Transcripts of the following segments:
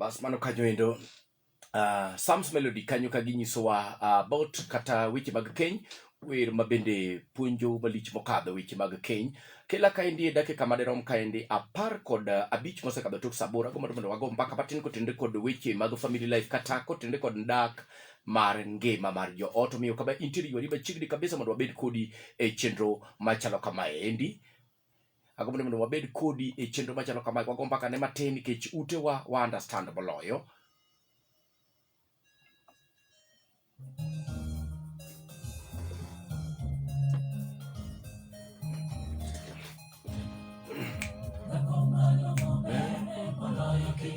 Bas mano kanyo endo uh, Psalms Melody kanyo ka ginyisowa uh, about kata weche mag keny wer ma bende puonjo malich mokadho weche mag keny kila kaendi e dakika madirom kaendi apar kod uh, abich mosekadho tok sabora go mondo wago mbaka matin kotenre kod weche mag family life kata kotenre kod ndak mar ngima mar joot omiyo kama intiere ywari machiegni kabisa mondo wabed kodi e chenro machalo kamaendi agombo ni mondo wabed kodi e chenro machalo kamae kwago mbaka ne matin nikech utewa wa understand moloyo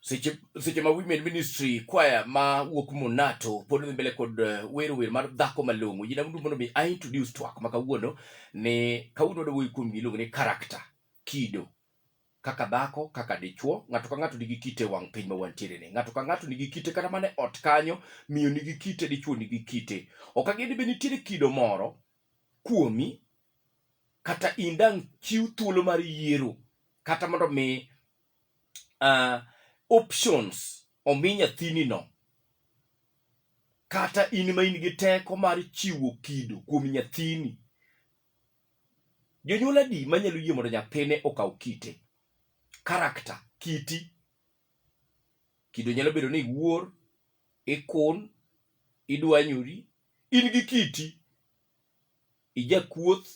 seche seche ma women ministry kwaya ma wuok monato pod dhi mbele kod eh, wero wer mar dhako malong'o yina mdu mondo mi i introduce twak ma kawuono ni kawuono wadwa wuoyo kuom giluongo ni character kido kaka dhako kaka dichwo ng'ato ka ng'ato nigi kite wang' piny ma wantiere ni ng'ato ka ng'ato nigi kite kata mana e ot kanyo miyo nigi kite dichwo nigi kite ok ageni be nitiere kido moro kuomi kata in dang' chiw thuolo mar yiero kata mondo mi uh, options omi nyathini no kata in ma in gi teko mar chiwo kido kuom nyathini Jonyuol adi manyalo yie mondo nyathine okaw kite? Karakta, kiti. Kido nyalo bedo ni iwuor, ikun, idwanyori, in gi kiti, ijakuoth,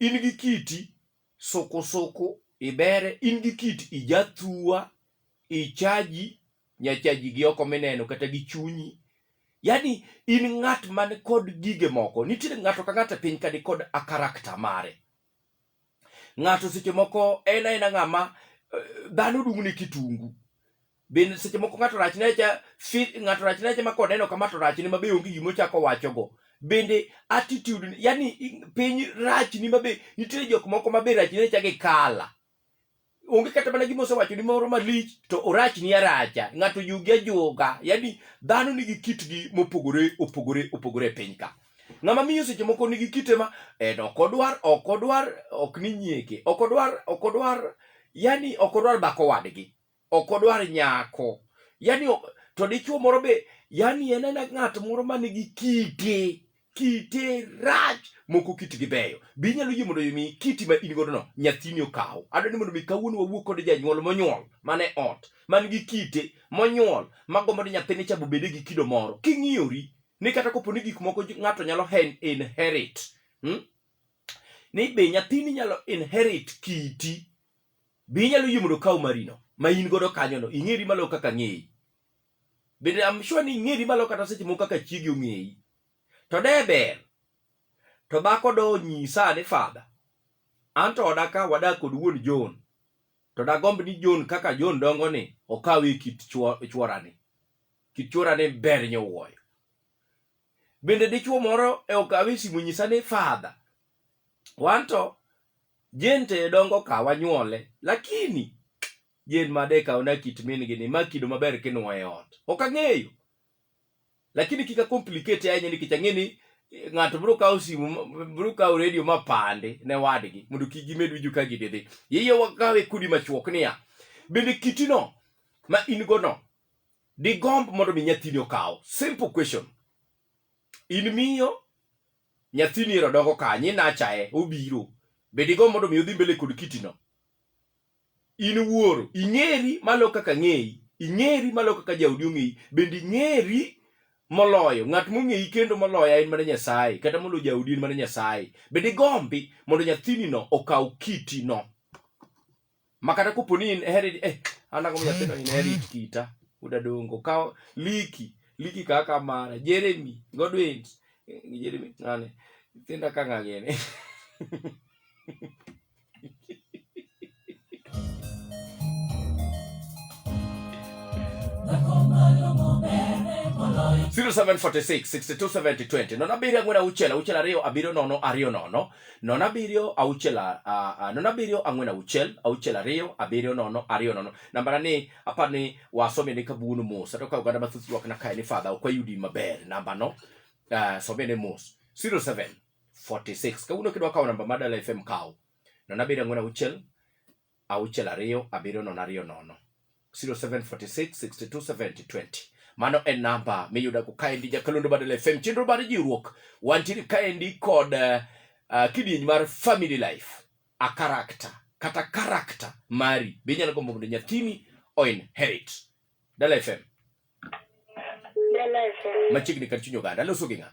in gi kiti, sukusuku, ibere, in gi kiti, ijathua, ichaji nyachaji gi oko mineno kata gi chunyi yani in ng'at man kod gige moko nitiere ng'ato ka ng'ato e piny kani kod a karakta mare ng'ato seche moko en aena ng'ama eh, dhano dung' ne kitungu bende seche moko ng'ato rachne cha ng'ato rachne cha ma koneno kama to rachne mabe onge gima ochako wachogo bende attitude yani piny rachni mabe nitiere jok moko mabe rachne cha gi kala onge kata mana gima osewacho ni moro malich to orach ni aracha ng'ato yugi ajuoga yani dhano nigi kitgi mopogore opogore opogore e piny ka ng'ama miyo seche moko nigi kite ma en ok odwar ok odwar ok ni nyieke ok odwar ok odwar yani ok odwar bako wadgi ok odwar nyako yani to dichuo moro be yani en ena ng'at moro ma nigi kite kite rach moko kitgi beyo be inyalo yie mondo mi kiti ma in godo no nyathini okaw adwa ni mondo mi kawuono wawuo kod janyuol monyuol mane ot man gi kite monyuol magombo ni nyathini cha bobede gi kido moro king'iyori ni kata kopo ni gik moko ng'ato nyalo hen inherit hmm? ni be nyathini nyalo inherit kiti Be inyalo yie mondo okaw marino ma in godo kanyono? Ing'eri malo kaka ng'eyi. Bende I'm sure ni ing'eri malo kata seche moko kaka chiegi ong'eyi. To de ber to dhako do nyisa ni fadha an to oda ka wadak kod wuon John to dagomb ni John kaka John dongo ni okaw e kit chworani. Kit chworani ber nyowuoyo. Bende dichwo moro e okawe simu nyisa ni fadha wanto jin te dongo ka wanyuole lakini jin made ka ona kit min gi ni makido maber kinwa e ot ok ang'eyo lakini kika complicate ahinya nikech ang'e ni eh, ng'ato biro kawo simu biro kawo redio ma pande ne wadgi mondo kik gimed winjo ka gididhi yeye wakawe kudi machuok niya bende kitino ma in go no digomb mondo mi nyathini okaw simple question in miyo Nyathini ero dongo kanye nachae obiro. Be digo mondo mi odhi mbele kod kitino? In wuoro, ing'eri malo kaka ng'eyi, ing'eri malo kaka jaodi ong'eyi, bende ing'eri moloyo ng'at mong'eyi kendo moloya en mana Nyasaye, kata moloyo jaodi en mana Nyasaye. Be digombi mondo nyathini no okaw kiti no? makata kopo ni in heri eh ana ko nyathino in heri kita uda dongo ka liki liki kaka mara jeremy godwin eh, jeremy nane tinda kanga gene Zero seven forty six sixty two seventy twenty nono abiriyo ang'wen auchiel auchiel ariyo abiriyo nono ariyo nono nono abiriyo auchiel nono abiriyo ang'wen auchiel auchiel ariyo abiriyo nono ariyo nono nambara ni apar ni wasome ni kabuono mos ato ka oganda mathoth ywak na kae ni fadha ok wayudi maber namba no uh, some ni mos 07 46 kawuono kidwa kawo namba madala fm kawo nono abiriyo ang'wen auchiel auchiel ariyo abiriyo nono ariyo nono 0746627020 mano en namba miyudago kaendi jakalundu badala fm chenro mar jiwruok wantiere kaendi kod uh, kidieny mar family life a karakta kata karakta mari be inyalo gombo mondo nyathini oinherit dala fm Dala FM. machiegni kar chuny oganda loso gi ng'a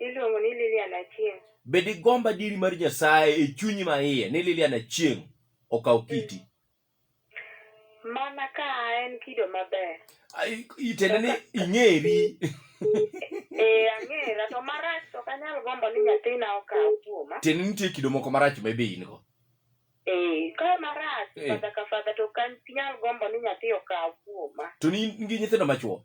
Iluongo ni Lilian Achieng. Be digomb adieri mar Nyasaye e chunyi ma iye ni Lilian Achieng okaw mm. kiti? Mana ka en kido maber. Itende ni ing'eri. Eh, ang'era to marach to kanyal gombo ni nyathina okaw kuoma. Tiende nitie kido moko marach ma be in go. Eh, ka marach eh. fadha ka fadha to kanyal gombo ni nyathi okaw kuoma. To ni in gi nyithindo machuo?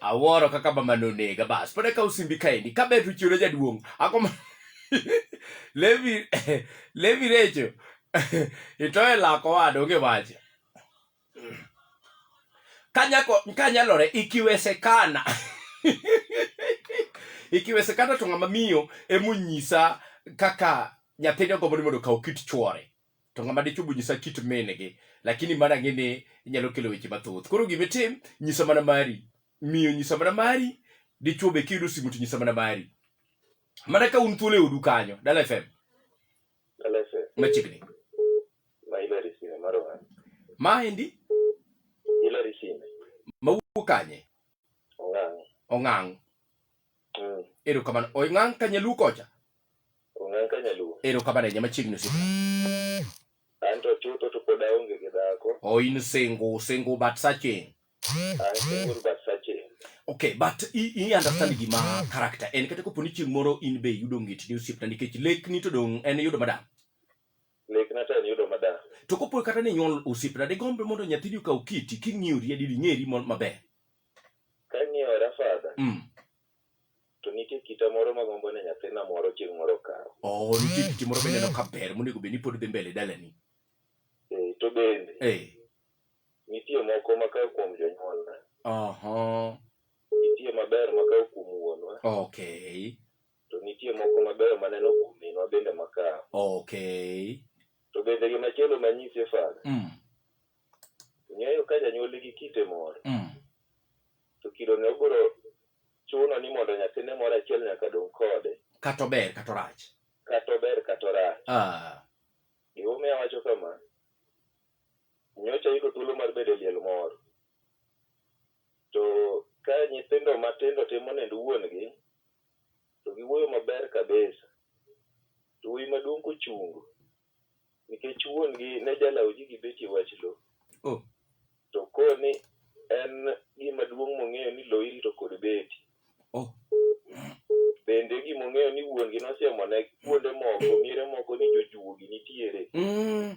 awuoro kaka mama nonega bas pod akawo simbi kaendi ka ber to chiwna jaduong' akoma levi levi recho itoye lako wada onge wach kanyako kanyalore ikiwesekana ikiwesekana to ng'ama miyo emonyisa kaka nyathine ogombo ni mondo okaw kit chwore to ng'ama dichwo be nyisa kit mingi lakini mana ang'e ni inyalo kelo weche mathoth koro gima itim nyisa mana mari miyo nyisa mana mari dichwo be kiyudo simu to nyisa mana mari mana ka un thuolo e odu kanyo dala fm machiegni ma endi mawuok kanye ong'ang' mm. erokamano ong'ang' kanyaluo kocha Ong'ang ka nyaluo. Erokamano ahinya machiegni osiepa. An to chutho to pod aonge gi dhako. Oh, in single, single but searching. An single but searching. Okay, but i, i understand gima character en kata kopo ni chieng' moro in be yudo ng'it ni osiepna nikech lekni to dong' en yudo madam. Lekna to en yudo madam. To kopo kata ni nyuol osiepna de gombe mondo nyathini okaw kiti king'iyo riedi ding'eri maber. Kang'iyo rafadha. Mm. To nitie kita moro magombo ni nyathina moro chieng' moro okaw. Oo, nitie kiti moro mineno ka ber monego bed ni pod dhi mbele dalani. Eh, to bende Eh, nitie moko makaw kuom jonyuolna. aha, Nitie maber makaw kuom wuonwa. okay, To nitie moko mabeyo maneno kuom minwa bende makaw. okay, To bende gimachielo manyisi Fadha, mm, Ng'eyo ka janyuol nigi kite moro, Mm. to kidone obiro chuno ni mondo nyathine moro achiel nyaka dong' kode, Kata ober kata orach. kata ober kata orach. Ah. Gimomiyo awacho kama, nyocha ayudo thuolo mar bedo e liel moro. To ka nyithindo matindo timo nend wuon-gi, to giwuoyo maber kabisa. To wuoyi maduong' kochungo, nikech wuon-gi ne jalawo ji gi beche wach lo. Oh. To koni en gima duong' mong'eyo ni lo irito kod beti. Oh. Bende gima ong'eyo ni wuon-gi nosiemone kuonde moko, miere moko ni jojuogi nitiere. Mm.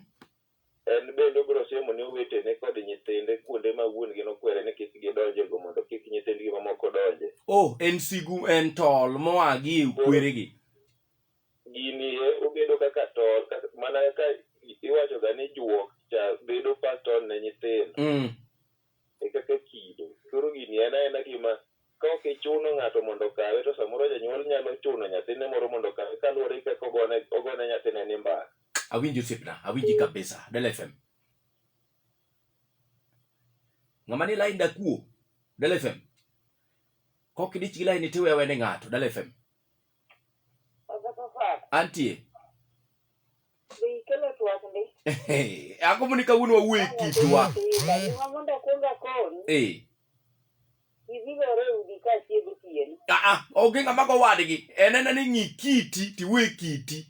En bende obiro siemo ne owetene kod nyithinde kuonde ma wuon-gi nokwere ni kik gidonje go mondo kik nyithindgi mamoko donje. Oh, en sigu, en tol moa gi e kweregi. gini e obedo kaka tol kaka- mana ka iwachoga ni juok cha bedo paston ne nyithindo Mm. e kaka kido koro gini en aena gima ka ok ichuno ng'ato mondo okawe to samoro janyuol nyalo chuno nyathine moro mondo okawe kaluwore gi kaka ogone ogone nyathine ni mbaka awinji osiepna awinji kabisa del fm ng'ama ni lain dakuo del fm kok idich gi lain itiwe awene ng'ato del fm Antie. Ako muni kawuono wawuoyo e kitwa. Eh. Ah, ah, onge ng'ama go wadgi. En en ni ng'i kiti tiwe kiti.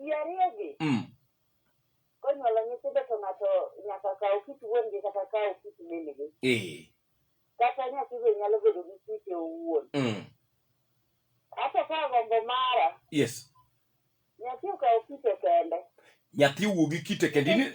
ji ariyogi Mm. konyuolo nyithindo to ng'ato nyaka kaw kit wuongi kata kaw kit mingi Eh. kata nyathi be nyalo bedo gi kite owuon Mm. ato ka gombo mara Yes. nyathi okaw kite kende Nyathi wuo gi kite kendo in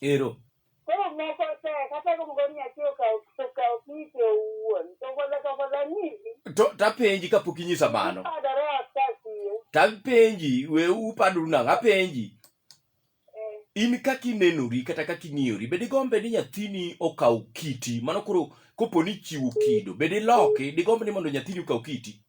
ero koro moko te kata luongo ni nyathi okawo okawo kite owuon to gola to gola nyisi to tapenji kapok inyisa mano ipadore asasie tapenji we upadoru nang'o apenji eh, in kaka inenori kata kaka ing'iyori bed igombe ni nyathini okaw kiti mano koro kopo ni ichiwo kido bed iloki digomb ni mondo nyathini okaw kiti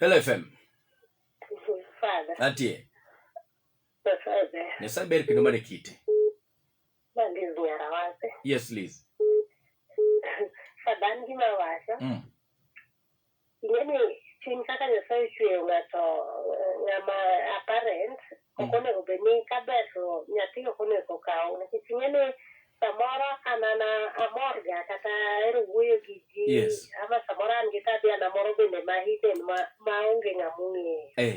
Hello FM. Atie. Nyasaye ber kendo mane kite. Yes, please. Sadan gima wacho. Mm. ing'e ni chuny kaka Nyasaye ochweyo ng'ato eh, ng'ama apparent ok Mm. onego bed ni kaber to nyathi ok onego kaw nikech ing'e ni samoro an an amorga kata ahero wuoyo gi ji Yes. ama samoro an gi tabia na moro bende ma hidden ma, ma onge ng'ama ong'eyo Eh.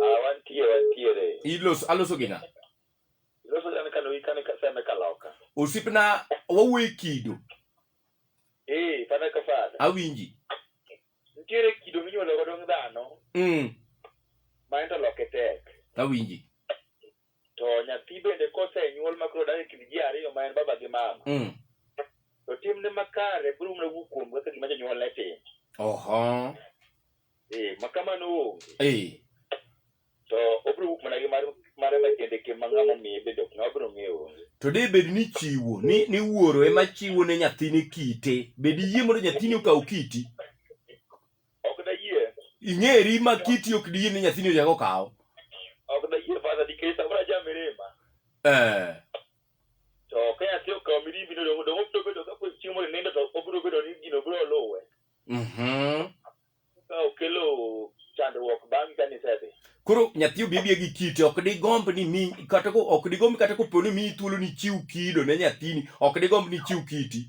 Ah, wantie wantiere. Ilos aloso gi ng'a? Iloso jana kano gi kane kaseme kaloka. Osipna wawuoye kido. Eh, fana ka fana. Awinji. Nitiere kido minyuolo godo dhano. Mm. Ma ento loke tek. Awinji. to nyathi bende kosenyuol ma koro odak e kind ji ariyo ma en baba gi mama Mm. to timne makare biro mana wuok kuom kaka gima jonyuol ne timo Oho. eh ma kamano onge Eh. to obiro wuok mana gi mar mare ma kende ke ma ng'ama omiye bende ok ng'ama biro ng'eyo onge To de bed ni chiwo ni ni wuoro ema chiwo ne nyathine kite. Bed iyie mondo nyathini okaw kiti. Ok dayie. Ing'eri ma kiti ok diyie ni nyathini ochak okaw. Ok dayie fadha nikech samoro aja mirima. Eh. To ka nyathi okaw mirimbi no dongo dongo biro bedo ka kweth chiemo nindo to obiro bedo ni gino biro luwe. Mhm. Ka okelo chandruok bang' ka nisedhi. Koro nyathi obi abia gi kite ok digomb ni mi kata ko ok digomb kata koponi mi thuolo ni chiw kido ne nyathini ok digomb ni chiw kiti.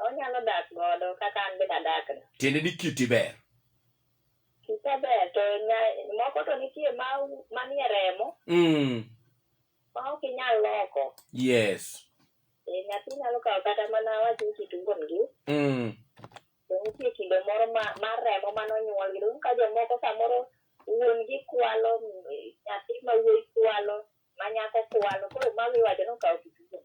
Onyalo dak godo kaka an bende adak ni. Tiende ni kiti ber. Kite ber to nya, moko to nitie ma manie remo Mm. ma ok inyal loko. Yes. E, nyathi nyalo kawo kata mana wach ni kit wuon gi Mm. to nitie kido moro ma, mar remo mane onyuol gi. Donge ka jomoko samoro wuon gi kwalo, mm, nyathi ma wuoyi kwalo, ma nyako kwalo, koro mago iwacho ni okawo kit wuon.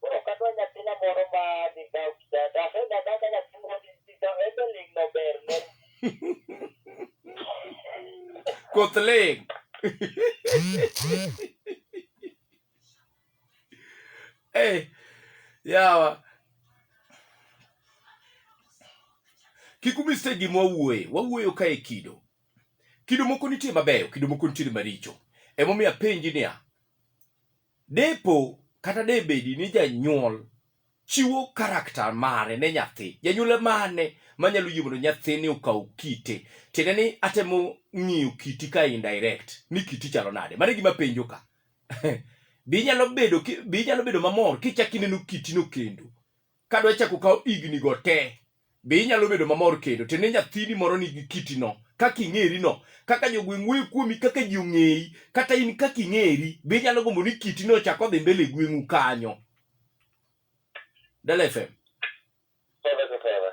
Koro kadwa nyathina moro ma dhi kawo kitanda, ahedha kaka nyathi moro dhi dhi kawo, en be ling' nober ne. Koth ling'. Eh, yawa. Kik umi stage gima wawuoye. Wawuoyo ka e kido. Kido moko nitie mabeyo, kido moko nitie maricho. Emomiyo apenji niya, Depo kata debedi ni janyuol chiwo karakta mare ne nyathi, janyuol emane manyalo yie mondo nyathini okaw kite? Tiende ni atemo ng'iyo kiti ka indirect ni kiti chalo nade? Mano e gima penjo ka. Be inyalo bedo ki- be inyalo bedo mamor kichak ineno kitino kendo? kadwa chako kawo higni go te be inyalo bedo mamor kendo to ne nyathini moro nigi kitino kaka ing'erino kaka jogweng' wuoyo kuomi kaka ji ong'eyi kata in kaka ing'eri be inyalo gombo ni kitino ochako dhi mbele gweng'u kanyo Dala FM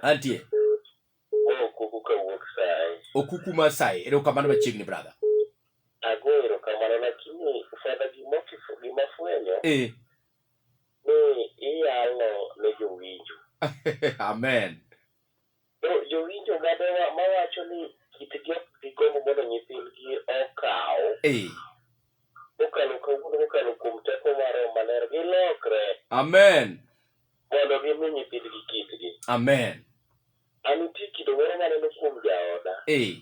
antie okuku kawuok sai okuku ma sai erokamano machiegni brother ago erokamano lakini fadha gimofwenyo eh. ni iyalo ne jowinjo. Amen. To jowinjo gadewa mawacho ni kitgi ok gigombo mondo nyithindgi okaw Ee. kokalo kawuono kokalo kuom teko mar Roho Maler gilokre Amen. mondo gimi nyithindgi kitgi. Amen. An nitie kido moro maneno kuom jaoda Ee.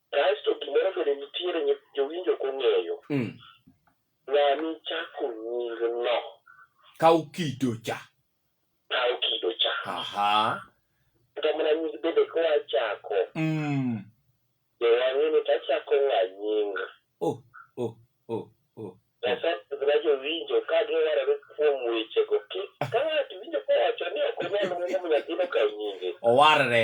Kaesto gimoro bende nitiere ni jowinjo ok ong'eyo. Mm. Ng'ani chako nyingno Kaw kido cha. kawo kido cha. Aha. Kata mana nying bende koa chako, Mm. be wang'e ni tachako ng'a nying. Oh, oh, oh. Asepidhna jowinjo ka giwarore kuom wechego. Kik ka ng'ato winjo kowacho ni ok onyal ng'eyo nyathino kawo nyinge. Owarre.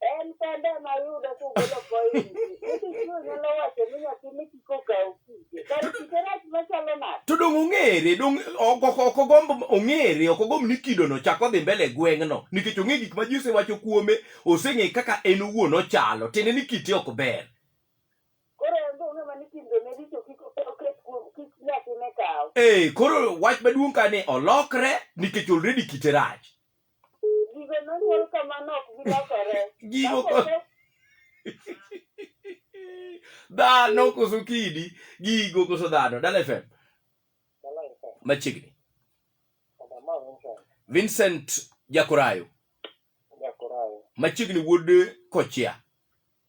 En kende ema yudo kugolo point. Nyithi chuo nyalo wacho ni nyathi ni kik okaw kite. Kar kite rach machalo nade? to dong' ong'ere dong' ok ok- ok ogomb ong'ere ok ogomb ni kidono chak odhi mbele e gweng'no nikech ong'e gik ma ji osewacho kuome oseng'e kaka en owuon ochalo tiende ni kite ok ber Koro en be ong'e ma ni timbe ne richo kik oket kuom kik nyathine kaw. ee koro wach maduong' ka ni olokre nikech already kite rach Gigo nonyuol kamano ok gilokore. Gigo Ka kose- dhano koso kidi gigo koso dhano dala fm machiegni vincent jakorayo machiegni wuod kochia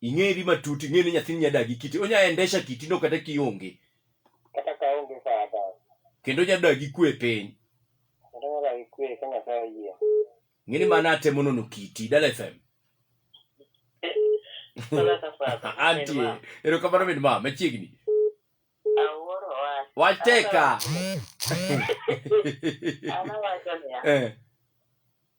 ing'eri matut ing'e ni nyathini nyadagi kiti onya endesha kiti no kata kionge kata ka onge fada kendo nyadagi kwe e piny kendo nyadagi kwe ka nyasaye oyie ng'e ni mana atemo nono kiti dala fm antie erokamano min ma machiegni wacheka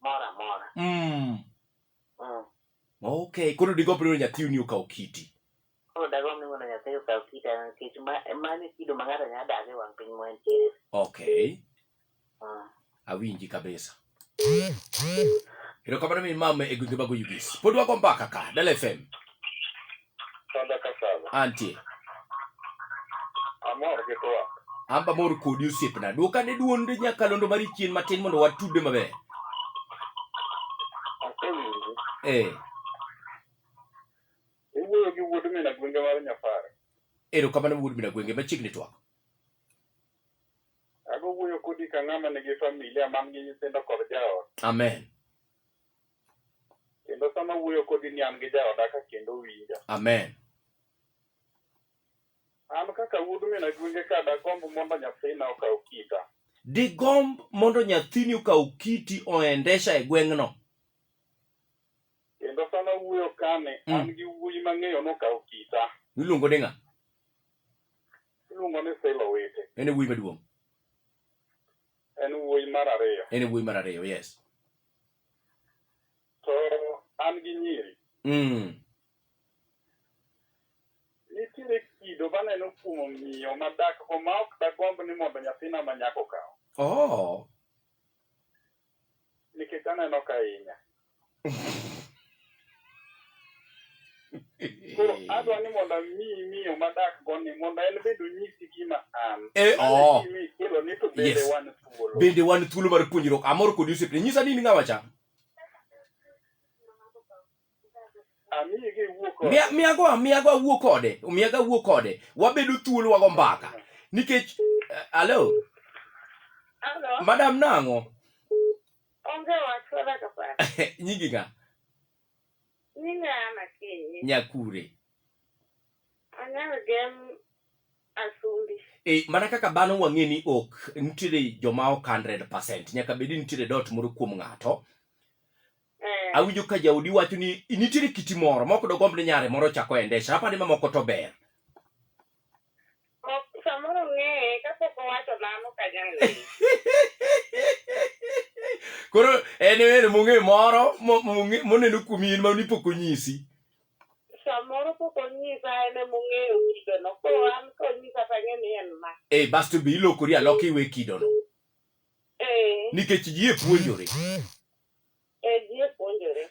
moro amora Mm. Mm. Okay, koro digomb ni mondo nyathiu ni okaw kiti. koro dagomb ni mondo nyasaye okaw kita nikech ma- mano e kido ma ng'ato nyalo dago e wang' piny moentiere Okay, Mm. awinji kabisa. Erokamano min mama e gwenge mag Oyugis. Pod wago mbaka ka, Dala FM. Sanda ka sanda. Antie. Amor gi twak. An be amor kodi osiepna. Dwok ane dwond nyakalondo mari chien matin mondo watudre maber. Asewinji. Eh, Iwuoyo gi wuod mina gwenge mar Nyapare. erokamano wuod mina gwenge machiegni twak. Ago wuoyo kodi ka ng'ama nigi familia man gi nyithindo kod jaot. Amen. Kendo sama wuoyo kodi ni an gi jaoda ka kendo winja. Amen. An kaka wuod min agwenge ka dagomb mondo nyathina okaw kita. Digomb mondo nyathini okaw kiti oendesha e gweng'no. Kendo sama wuoyo kani, mm. an gi wuoyi mang'eyo nokaw kita. Iluongo ni ng'a? Iluongo ni Silo Wete. En e wuoyi maduong'. En wuoyi mar ariyo. En wuoyi mar ariyo, yes. To an gi nyiri. Mm. Nitiere kido maneno kuom miyo madak ma ok dagomb ni mondo nyathina ma nyako kaw. Oh. Nikech aneno ka hinya. Koro adwa ni mondo mi miyo madak goni mondo en bende onyisi gima an. Eh, oh. Kelo ni to bende Yes. wan thuolo. bende wan thuolo mar puonjruok amor kodi osiepne nyisa ni in ng'awa cha Amiyi gi wuok oko. Miya- miyago miyago awuo kode miyago awuo kode wabedo thuolo wago mbaka nikech eh, alo Hello. madam nang'o Onge wach wala kapara. Nyingi ng'a? Nyinga ana kinyi. Nyakure. Anyalo gem asumbi. E, mana kaka dhano wang'e ni ok nitiere joma ok 100% nyaka bedi nitiere dot moro kuom ng'ato eh. awinjo ka jaodi wacho ni nitiere kiti moro moko dogomb ni nyare moro chako endesha apani mamoko to ber Ok, samoro ong'eye kapok owacho mano kanyang' ng'eye. koro en wer mong'e moro mo- mong'e- moneno kuomi in ma ni pok onyisi Samoro pok onyisa en ema ong'eyo wudeno. Koro an konyisa to ang'e ni en ma. e basto be ilokori aloka iwe kidono Eh, nikech ji e puonjore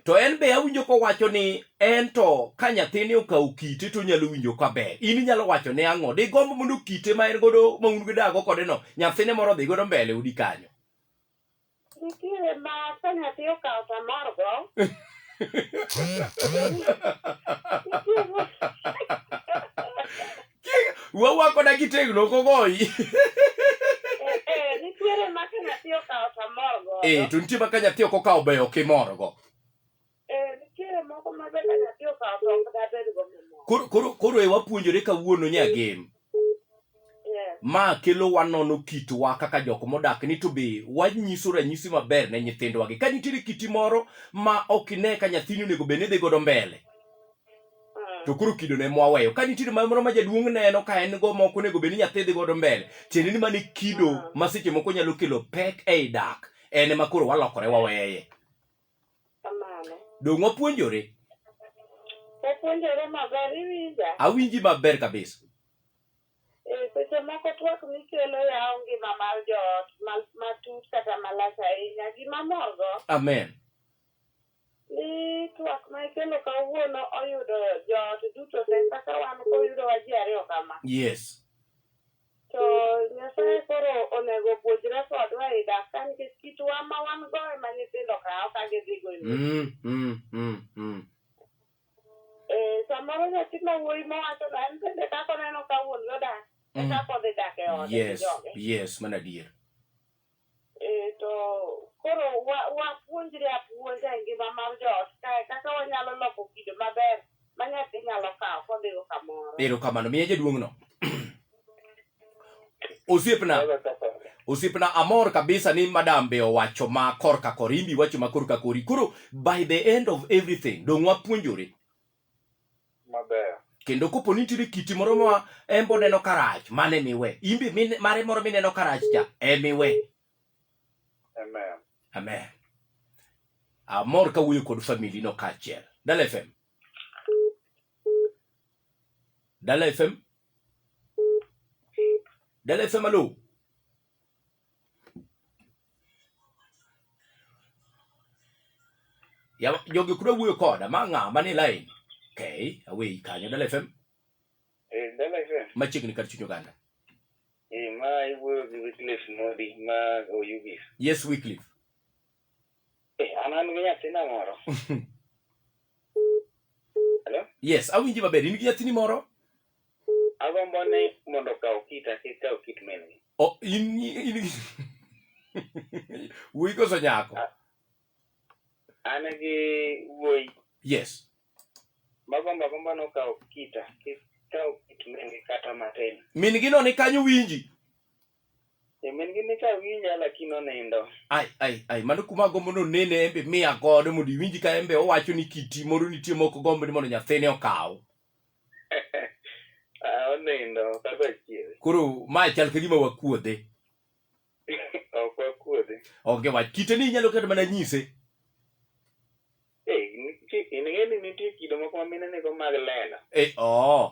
to en be awinjo kowacho ni en to ka nyathini okawo kite to onyalo winjo kaber in inyalo wacho ne ang'o digombo mondo kite ma en godo ma un gidago kode no nyathine moro dhi godo mbele udi kanyo nitiere ma ka nyathi okawo to amorgo Wawa koda kitegno ok ogoyi. Nitiere ma ka nyathi okawo to amor godo. Eh, to nitie ma ka nyathi ok okawo be ok imor go. Eh, nitiere moko ma be ka nyathi okawo to ok dabed go mamor. Koro koro koro e wapuonjore kawuono nya gem. Yes. Ma kelo wanono kitwa kaka jok modak ni to be wanyiso ranyisi maber ne nyithindwa gi. Ka nitiere kiti moro ma ok ine ka nyathini onego bed ni dhi godo mbele. Mm. to koro kido ne mwaweyo ka nitie ma moro ma jaduong' neno ka en go moko onego bed ni nyathi dhi godo mbele tiende ni mane kido mm. ma seche moko nyalo kelo pek ei dak en ma koro walokore waweye dong' wapuonjore wapuonjore maber iwinja awinji maber kabisa e, seche moko twak mikelo yawo ngima mar joot matut kata malach ahinya gima morgo amen Ni twak ma ikelo kawuono oyudo joot duto te kaka wan koyudo wa ji ariyo kama. Yes. To Nyasaye koro onego opuonjre kodwa e dak ka nikech kitwa ma wan go ema nyithindo kawo ka gidhi go e mier. Mm, mm, mm, mm. Eh, samoro nyathi ma wuoyi mowacho na en bende kaka oneno ka wuon gi odak e Mm. kaka odhi dak e ode gi Yes, joge. yes, mana adier. Eh, to koro wa- wapuonjre apuonja e ngima mar joot kae kaka wanyalo loko kido maber ma nyathi nyalo kawo kodhigo kamoro. erokamano miya jaduong'no osiepna Kaka kaka. osiepna amor kabisa ni madam be owacho ma korka korimbi wacho ma korka kori koro by the end of everything dong' wapuonjore maber kendo kopo ni nitiere kiti moro ma embo neno karach mane miwe imbe mare moro mineno karach cha emiwe amen amen amor ka wuoyo kod famili no kaachiel dala fm dala fm dala fm alo ya jogi kuda wuoyo koda ma ng'a mani line okay away kanyo dala fm eh dala fm machiegni kar chuny oganda eh ma iwuoyo gi Wycliffe Modi ma oyugis yes Wycliffe Eh, an an gi nyathina moro. Hello? yes awinji maber in gi nyathini moro Agombo ni mondo okaw kita kik kaw kit min gi. O- in in wuoyi koso nyako An gi wuoyi yes magombo agombo ni okaw kita kik kaw kit min gi kata matin. min gi no ni kanyo winji Eh, min gi ni ka winja lakini onindo. Ai ai ai mano kuma agombo ni onene en be miya godo mondo iwinji ka en be owacho ni kiti moro nitie mok ogombo ni mondo nyathine okaw. Ah, onindo kaka chier. Koro ma chal ka gima wakuodhe. Ok wakuodhe. Onge wach kite ni inyalo kata mana nyise. Eh, nitie- in ng'e ni nitie kido moko ma mine nigo mag lela. Eh, oo.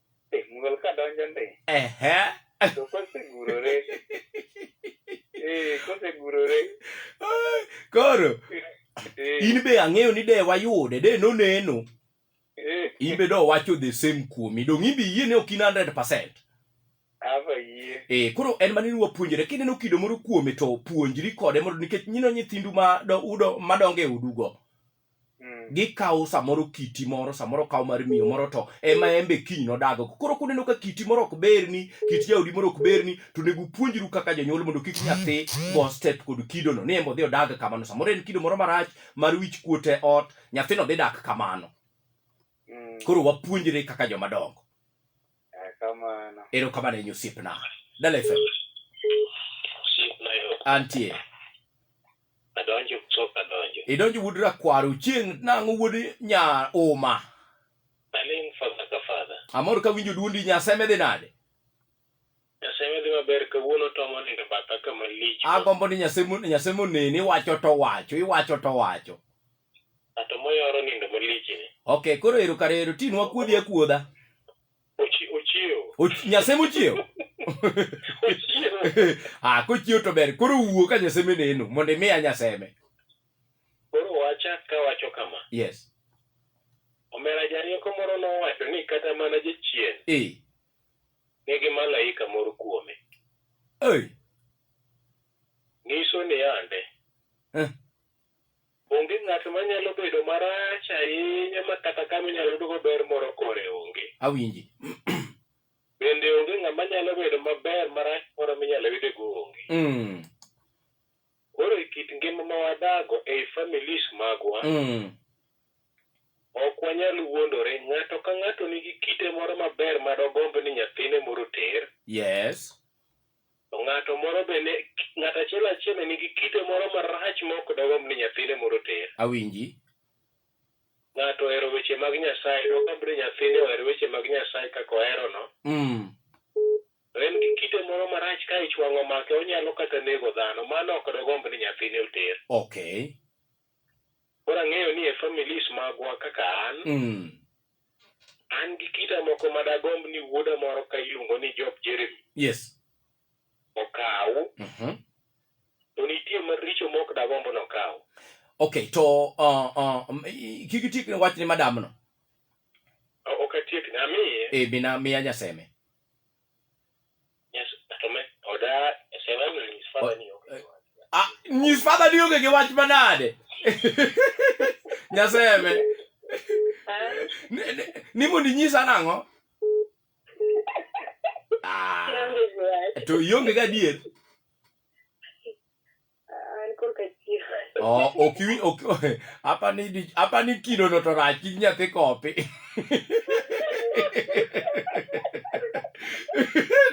e mul ka donjo ndi ehe to kosegurore eh kosegurore Ai, koro eh in be ang'eyo ni de wayude de noneno eh in be do wacho the same kuomi dong in be yie ni ok in 100% ava yie Eh, koro en mane ni wapuonjore kineno kido moro kuome to puonjri kode mondo nikech nyino nyithindu ma do, udo madongo e udugo Mm. gikawo samoro kiti moro samoro kawo mar miyo moro to ema embe kiny nodago koro kuneno ka kiti moro ok berni kit jaodi moro ok berni to onego upuonjru kaka jonyuol mondo kik nyathi go step kod kidono ni embe odhi odag kamano samoro en kido moro marach mar wich kuot e ot nyathino dhi dak kamano Mm. koro wapuonjre kaka joma dongo Erokamano. Erokamano ahinya osiepna. Dala FM. Osiepna yo. Antie. Adonjo kutoka adonjo. Idonjo wuod rakwaro chieng' nang'o wuod nya uma. Aling fadha ka fadha. Amor ka winjo duondi nyaseme dhi nade? Nyaseme dhi maber kawuono tomo nindo batha kama lich. Agombo ni nyaseme nyaseme oneni wacho to wacho iwacho to wacho. Ng'ato moyoro nindo malichni. Okay, koro ero kare ero tinwa kuodhi akuodha. Ochi- Ochiewo. Och- Nyase mochiewo. Ochiewo. ah, kochiewo to ber. Koro wuo ka nyaseme neno mondo imiya nyaseme. Koro wacha kawacho kama. Yes. Omera jarieko moro nowacho ni kata mana jachien Eh. nigi malaika moro kuome. Oi. Nyiso ni yande. Eh. Onge ng'at ma nyalo bedo marach ahinya ma kata kama inyalo yudgo ber moro kore onge. Awinji. Bende onge ng'ama nyalo bedo maber marach moro minyalo yude go onge. Mm. Koro e kit ngima ma wadago ei families magwa, Mm. ok wanyal wuondore. Ng'ato ka ng'ato nigi kite moro maber ma dogomb ni nyathine moro oter. Yes. To ng'ato moro be ne, ng'ato achiel achiel ne nigi kite moro marach ma ok dogomb ni nyathine moro oter. Awinji. Ng'ato ohero weche mag Nyasaye, dogomb ni nyathine oher weche mag Nyasaye kaka oherono. Mm. To en gi kite moro marach ka ich wang' omake, onyalo kata nego dhano. Mano ok dogomb ni nyathine oter. Okay. Koro ang'eyo ni e families magwa kaka an, Mm. An gi kida moko ma dagomb ni wuoda moro ka iluongo ni Job Jeremy Yes. okaw, Mhm. to nitie maricho ma ok dagomb ni okaw. Okay, to uh, uh, um, i- kik itiek ne wachne madamno. O- Ok atiekne, amiye. E, mina miya nyaseme. Ah, nyis father ni onge gi wach manade nyaseme ni mondo inyisa nang'o ah, to ionge gadier An korka chief. Oh, ok wi ok apa ni di- apa ni kido no to rach nying nyathi kopi.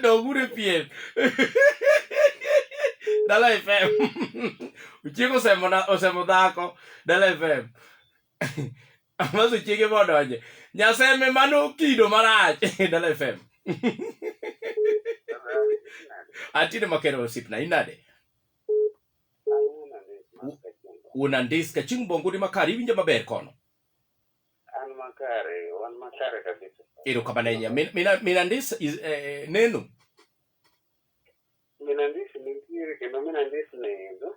Dogure pien. Dala FM. Uchieko osemo na osemo dhako. Dala FM. Amaso chiege be odonje. Nyaseme mano kido marach. Dala FM. Atine makero osipna inade? Unandiska chieng' bongudi makare iwinjo maber kono. An makare, wan makare kabisa. Ero kabanenya. Min, mina, minandis is, eh, neno. Minandis ni kiri kendo minandis ni indo.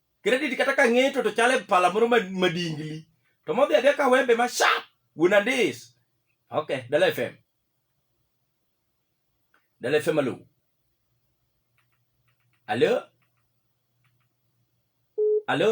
Credit kata ka ng'eto to chale pala moro madingli. To modhi adhi ka wembe ma sharp. Wuon Andis. Okay, Dala FM. Dala FM alo. Alo? Alo?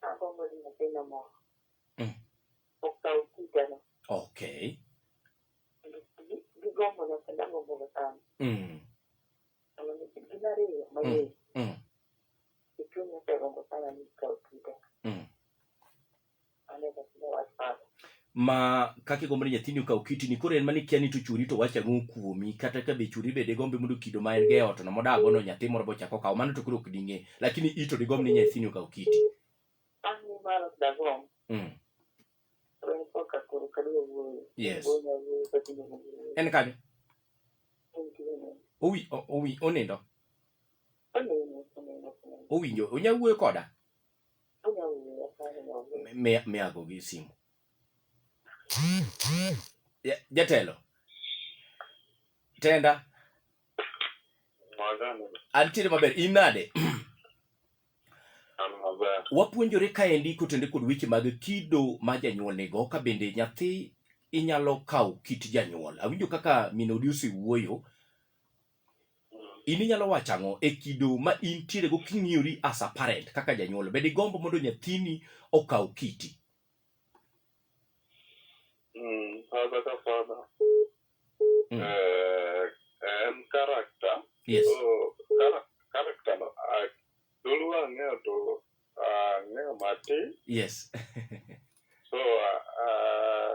Agombo ni nyathina moro Mm. okaw kiteno Okay. kendo gi- gigombo na kendo agomboga sana Mm. Sama ni- gin ariyo mang'eyo Mm. e chunya osegombo sana ni ikaw kiteno Mm. ma kaka igombo ni nyathini okaw kitini koro en mane kia ni to churi to wacha ang'o kuomi kata ka be churi be digombe mondo kido ma en go e ot no modago no nyathi moro bochako okawo mano to koro ok ding'e lakini ito digomb ni nyathini okaw kiti mm. yes en kanyo owi owi onindo owinjo onya wuoyo koda miyago gi simu jatelo tenda antiere maber in nade wapuonjore kaendi kotende kod weche mag kido ma janyuol nigo ka bende nyathi inyalo kawo kit janyuol awinjo kaka minodi osewuoyo in inyalo wacho ang'o e kido ma intiere go king'iyori as a parent kaka janyuol bed igombo mondo nyathini okaw kiti Mm, father ka father Mm. eh, en character yes so chara- character no ah, dholuo ang'eyo to ang'eyo matin yes so ah, ah,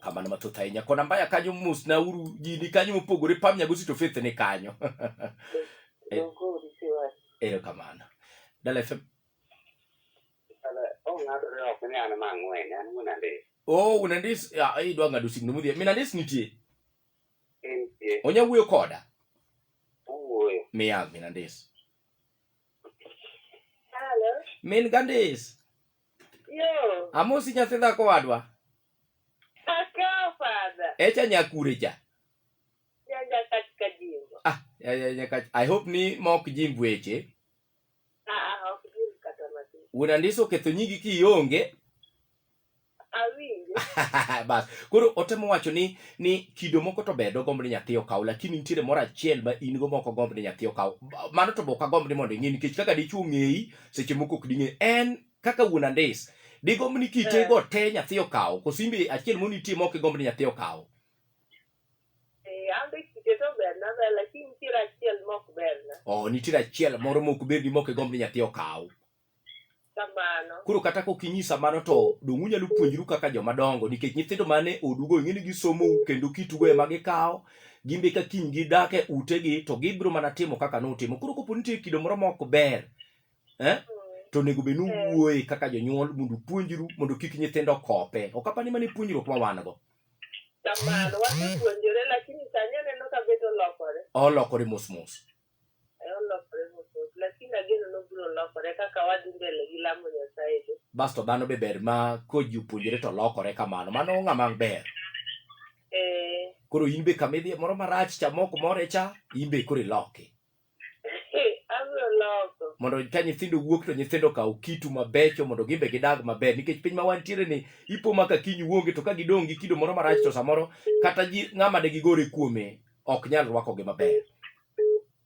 kamano mathoth ahinya kona mbaya kanyo mos na uru ji ni kanyo mopogore pam nyago sito faith ni kanyo ero kamano dala fm oh unandis ah, idwa ng'ado signo mudhie minandis nitie onya wuoyo koda miya minandis min gandis Yo. Amosi nyathi dhako wadwa. Akaw father. Echa nyakure cha. Nyanya katika jimbo. Ah, ya ya ya kach. I hope ni mok jimbo eche. Ah, ah, ok jimbo kata matin. Una ndiso ketho nyigi kionge. Awinjo. Bas. Koro otemo wacho ni ni kido moko to bedo gombo ni nyathi okaw lakini nitiere moro achiel ma in go moko gombo ni nyathi okaw. Mano to boka gombo ni mondo ing'e nikech kaka dichuo ng'eyi seche moko ok ding'e en kaka wuon andis digomb ni kitego eh. te nyathi okawo kosimbe achiel moni nitie ma ok igomb ni nyathi okawo oh, nitiere achiel moro ma ok berni ma ok igomb ni nyathi okaw koro kata ka ok inyisa mano to dong' unyalo puonjru kaka jomadongo nikech nyithindo mane odugo ing'e ni gisomou kendo kitugo ema gikawo gin be ka kiny gidak e utegi to gibiro mana timo kaka notimo koro kopo nitie kido moro ma ok ber eh? to onego bed ni uwuoye kaka jonyuol mondo upuonjru mondo kik nyithindo kope ok apani mana e puonjruok ma wan go kamano wasepuonjore lakini sani aneno ka bedo lokore olokore mos mos Olokore mos lakini ageno ni obiro lokore kaka wadhi mbele gi lamo Nyasaye be. Basto dhano be ber ma koji opuonjore to lokore kamano. Mano ng'ama ber. Eh, Koro in be kama idhiye moro marach cha mok more cha, in be koro iloki. abiro loko. Mondo ka nyithindo wuok to nyithindo okaw kitu mabecho mondo gin be gidag maber nikech piny ma wantiere ni ipo ma ka kiny wuonge to ka gidong' gi kido moro marach to samoro kata ji ng'ama de gigore kuome ok nyal rwakogi maber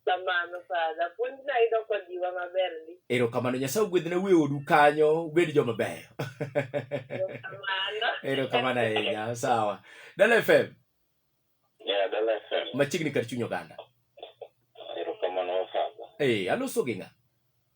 kamano fadha puonj nayudo kojiwa maber ndi erokamano nyasaye ogwedhne wiye odu kanyo ubed joma beyo kamano erokamano ahinya sawa dala fm Yeah, Dala FM. machiegni kar chuny oganda Erokamano wafadha. ee aloso gi ng'a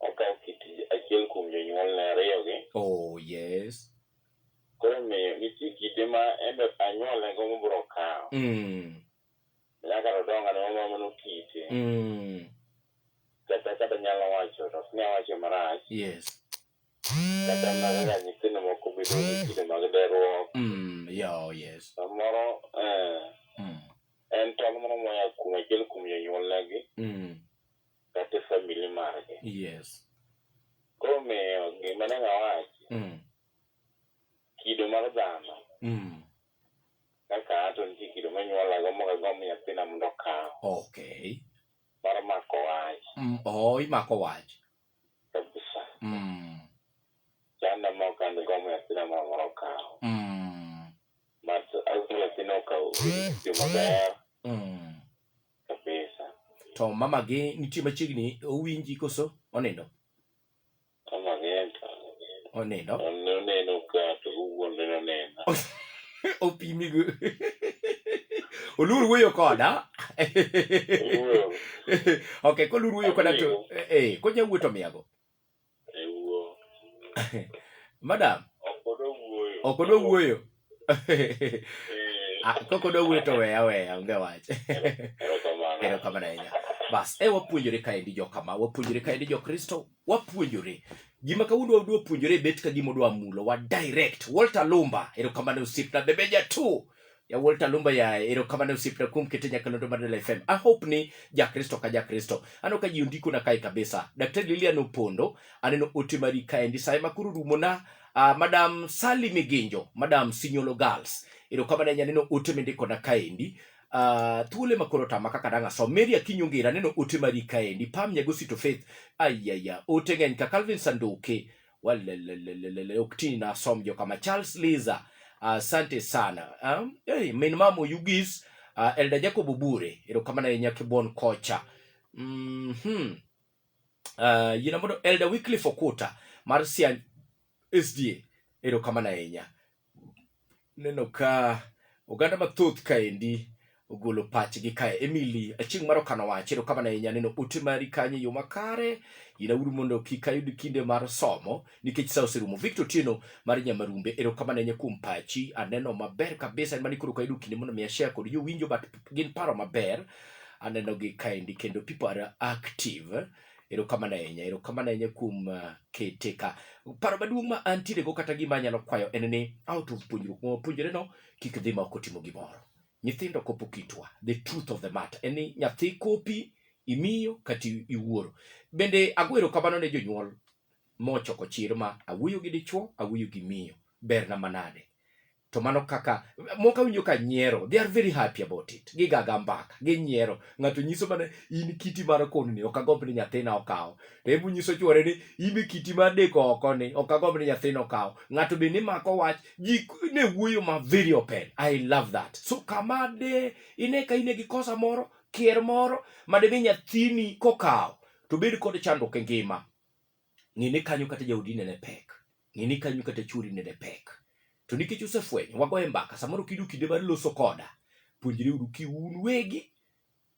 okawo kit achiel kuom jonyuolne ariyogi. Oh, yes. Koro omiyo nitie kite ma en be anyuolnego mobiro kawo. Mm. Nyaka to donga ne mama mano kite. Mm. Kata kata nyalo wacho to ok ne awacho marach. Yes. Kata mana kaka nyithindo moko bedo gi kido mag deruok. Mm. Yeah, oh, yes. Samoro eh, Mm. en tong' moro moya kuom achiel kuom jonyuolnegi. Mm. kata e family margi. Yes. Koro omiyo gima ne anya wacho, Mm. kido mar dhano Mm. kaka an to nitie kido manyuolago mok agomb nyathina mondo okaw Okay. mar mako wach Mm. Oh, imako wach. kabisa. Mm. Chanda mok an gomb nyathina moro mondo okaw. Mm. But agomb nyathina okaw yo maber Mm. kabisa to mama gi nitie machiegni owinji koso onindo kama genta onindo oneno ka to owuon ne oneno opimi go olur wuoyo koda Owuoyo. ok kolur wuoyo koda to Amigo. eh, eh, konya wuoyo to miyago madam ok odwa wuoyo Ah, kok odwa wuoyo to weya weya onge wach erokamano ahinya bas e wapuonjore kaendi jokama wapuonjore kaendi jokristo wapuonjore gima kawuondo wadwa puonjore bet ka gima odwa mulo wa direct walter lumba erokamano osiepna bebe jatu Yawuol Talumba ya erokamano osiepna kuom kete nyakalondo mar Dala FM. I hope ni Jakristo ka Jakristo. Ano ka ji ondiko na kae kabisa. Daktari Lilian Opondo, aneno ote mari kaendi sa ema koro rumo na uh, Madam Sally Miginjo, Madam Sinyolo Girls. Erokamano anya neno ote mindiko na kaendi. Uh, thuole ma koro tama kaka dang' asom Mary Akinyi Ongera neno ote mari kaendi Pam Nyagosito Faith ayaya ote ng'eny ka Calvin Sanduke Walelelelele, uktini na asom jo kama charles liza asante sana um, hey, min mama oyugis uh, elda jacob obure erokamano ahinya kibuon kocha mm-hmm. uh, yina mondo elda wycliffe okuta mar siany sda erokamano ahinya Aneno ka oganda mathoth kaendi ogolo pachgi kae. Emily Achieng' mar Okano Wach, erokamano ahinya neno ote mari kanyo e yo makare. Yinauru mondo kik ayud kinde mar somo nikech sa oserumo. Victor Otieno mar Nyamarumbe, erokamano ahinya kuom pachi. Aneno maber kabisa en mani koro kayudo kinde mondo mi ashare kod jowinjo but gin paro maber. Anenogi kaendi kendo people are active. Erokamano ahinya, erokamano ahinya kuom ah, kete ka. Paro maduong' ma antiere go kata gima anyalo kwayo en ni out of puonjruok ma wapuonjore no, kik dhi ma ok otimo gimoro. Nyithindo kopo kitwa, the truth of the matter en ni nyathi kopi, imiyo kata i- iwuoro. Bende ago erokamano ne jonyuol mochoko chir ma awuoyo gi dichwo, awuoyo gi miyo. Berna manade. to mano kaka moko awinjo ka nyiero they are very happy about it gigaga mbaka ginyiero ng'ato nyiso mana in kiti mar kono ni ok agomb ni nyathina okaw to ebu nyiso chwore ni in kiti mar deko oko ni ok agomb ni nyathina okaw ng'ato be nimako wach ji ne wuoyo ma very open i love that so kama de ine ka ine gi kosa moro kier moro ma dimi nyathini kokaw to bed kod chandruok e ngima ng'e ni kanyo kata jaodi nene pek ng'e ni kanyo kata chwori nene pek. To nikech usefwenyo, wagoye mbaka. Samoro kiyudo kinde mar loso koda, puonjre uru ki un wegi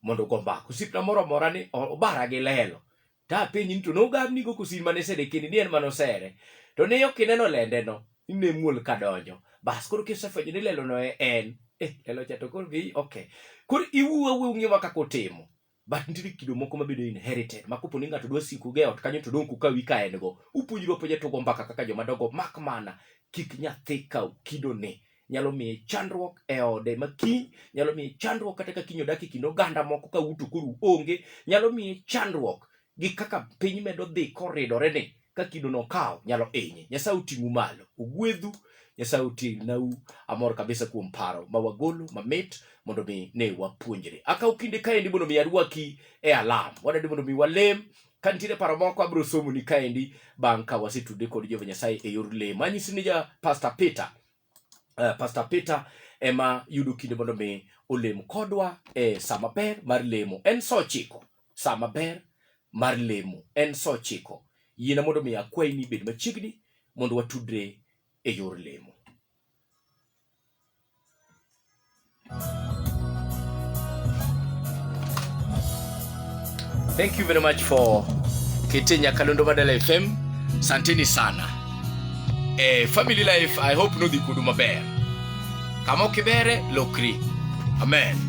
mondo ugo mbaka. Osiepna moro amora ni o- obara gi lelo. Ta apenji ni to nogabni go kosin mane sede kindi ni en mano sere. To ne ok ineno lende no, ine muol ka donjo. Bas koro kisefwenyo ni lelo no e en. Eh, lelo cha to koro gi okay. Koro iwuo awuo ung'e ma kaka utimo. but nitie kido moko mabedo inherited ma kopo ni ng'ato dwa siko ge ot kanyo to dong' kuka wi ka en go upuonjru apuonja tugo mbaka kaka joma dogo mak mana kik nyathi kaw kido ni nyalo miye chandruok e ode ma kiny nyalo miye chandruok kata ka kiny odak e kind oganda moko ka uto koro onge nyalo miye chandruok gi kaka piny medo dhi koridore ni ka kido no kawo nyalo inye nyasaye oting'u malo ogwedhu nyasaye otingnau amor kabisa kuom paro ma wagolo mamit mondo mi ne wapuonjre akaw kinde kaendi mondo mi arwaki e alam wadadi mondo mi walem ka nitiere paro moko abiro somoni kaendi bang' ka wasetude kod jehova nyasaye e yor lem anyisi ni ja pastor peter uh, Pastor Peter ema yudo kinde mondo mi olem kodwa e saa maber mar lemo en saa ochiko. Saa maber mar lemo en saa ochiko. Yiena mondo mi akwayi ni ibed machiegni mondo watudre e yor lemo. Thank you very much for KT Nyakalondo Badala FM. Santini sana. Eh, family life, I hope nudhi kudu maber. Kama ukibere, lokri. Amen.